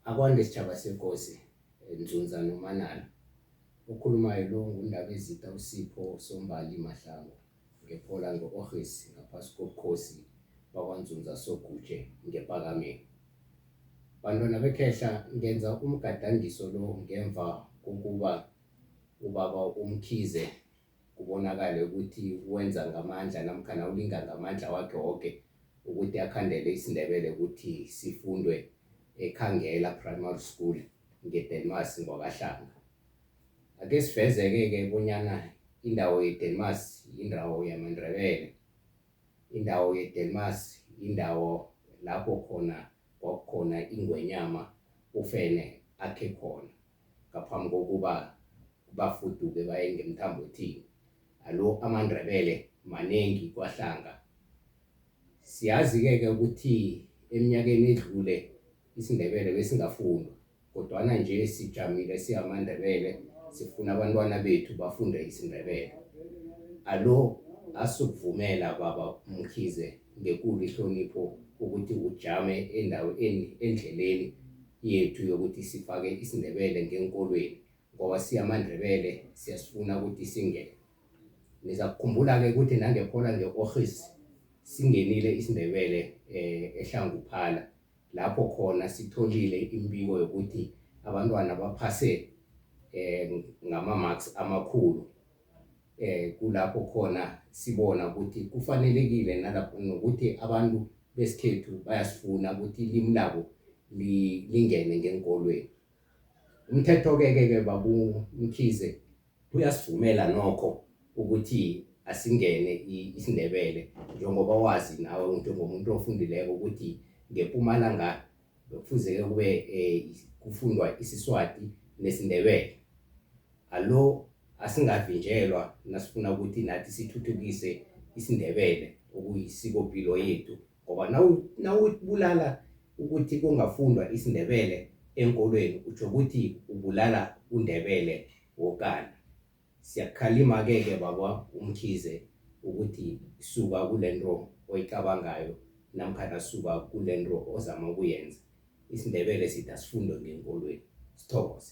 Akwande Sitjhaba seKosi Ndzundza Nomanala, Okhulumayo lo nguNdabezitha uSipho Sombali Mahlangu ngePola ngo-Orhesi ngaphasi kobukhosi bakwaNdzundza Sogutjhe ngePakameni. Bantwana bekhehla ngenza umgadangiso lo ngemva kokuba ubaba uMkhize, kubonakale ukuthi wenza ngamandla namkhana ulinga ngamandla wakhe woke ukuthi akhandele isiNdebele ukuthi sifundwe eKhangela Primary School ngeDelmas ngwakaHlanga. Ake siveze-ke-ke bonyana indawo yeDelmas yindawo yamaNdebele. Indawo yeDelmas yindawo lapho khona kwakukhona ingwenyama uFene akhe khona. ngaphambi kokuba bafuduke baye ngemthambothini alo amaNdebele maningi kwaHlanga siyazi-ke-ke ukuthi eminyakeni edlule isiNdebele besingafundwa kodwana nje sijamile siyamaNdebele sifuna abantwana bethu bafunde isiNdebele alo asukuvumela baba Mkhize ngekulu ihlonipho ukuthi ujame endaweni endleleni yethu yokuthi sifake isiNdebele ngeenkolweni ngoba siyamaNdebele siyasifuna ukuthi singene. Niza kukhumbula-ke ukuthi nangephola nge-Orhis singenile isiNdebele um eHlanguphala lapho khona sitholile imbiko yokuthi abantwana baphase um ngama-marks amakhulu eh kulapho khona sibona ukuthi kufanelekile nalapho nokuthi abantu besikhethu bayasifuna ukuthi ilimi labo lingene ngenkolweni umthetho-ke ke ke babumkhize uyasivumela nokho ukuthi asingene isindebele njengoba wazi nawe njengomuntu ofundileko ukuthi ngempumalanga bekufuzeke kube um kufundwa isiswati nesindebele alo asingavinjelwa nasifuna ukuthi nathi sithuthukise isindebele okuyisikopilo yethu ngoba nawubulala ukuthi kungafundwa isindebele enkolweni utsho ukuthi ubulala undebele wokana Siyakukhalima-ke ke baba uMkhize ukuthi suka kulento oyicabangayo namkhana suka kulento ozama ukuyenza. IsiNdebele sithi asifundo ngeenkolweni. Sithokoze.